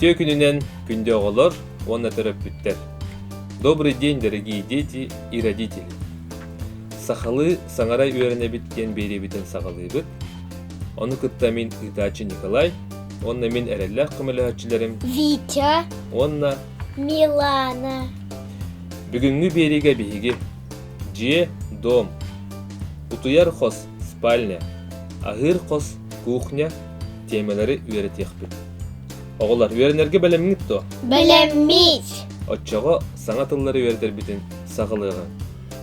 Үтүө күнүнэн күндү оҕолор уонна төрөппүттэр. Добрый день, дорогие дети и родители! Сахалыы саҥара үөрэнэбит диэн биэриэбитин саҕалыыбыт. Ону кытта мин ыытааччы Николай, Уонна мин эрэллээх көмөлөһөөччүлэрим Витя, уонна Милана. Бүгүҥҥү биэриигэ биһиги дьиэ, дом, утуйар хос, спальня, аһыыр хос, кухня тиэмэлэри үөрэтиэхпит. Оҕолор үөрэнэргэ бэлэмҥит дуо? Бэлэммит! Оччоҕо саҥа тыллары үөрэтэрбитин саҕалыаҕыҥ.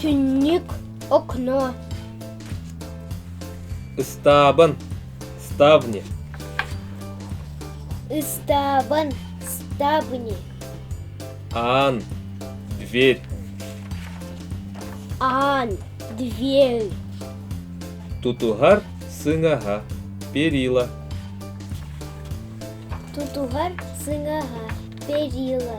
Түннүк окно Ыстаабын Ставни Ыстаабын Ставни Аан Дверь Аан Дверь Тутуһар сыҥаһа Перила Тутуһар сыҥаһа Перила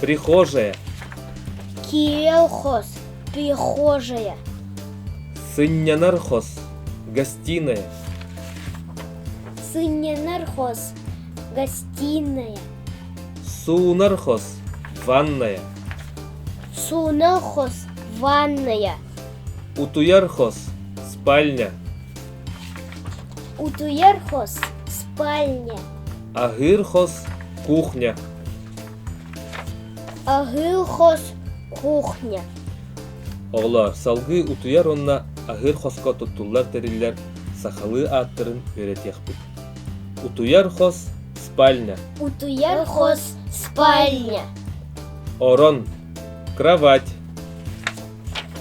прихожая кириэл хос прихожая сынньанар хос гостиная сынньанар хос гостиная суунар хос ванная суунар хос ванная утуйар хос спальня утуйар хос спальня аһыыр хос кухня Аһыы хос кухня Оҕолоор, салгыы утуйар уонна аһыыр хоско туттуллар тэриллэр сахалыы ааттарын үөрэтиэхпит. Утуйар хос спальня, Утуяр хос спальня. орон, кровать,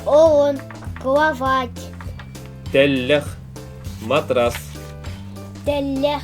Он кровать. тэллэх, матрас, Тэллэх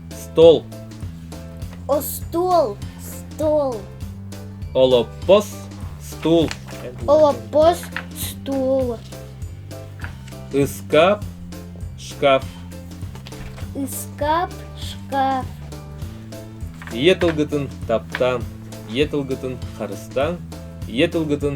стол остуол стол олоппос стул олоппос стул ыскап шкаф ыскап шкаф ийэ тылгытын таптааҥ ийэ тылгытын харыстааҥ ийэ тылгытын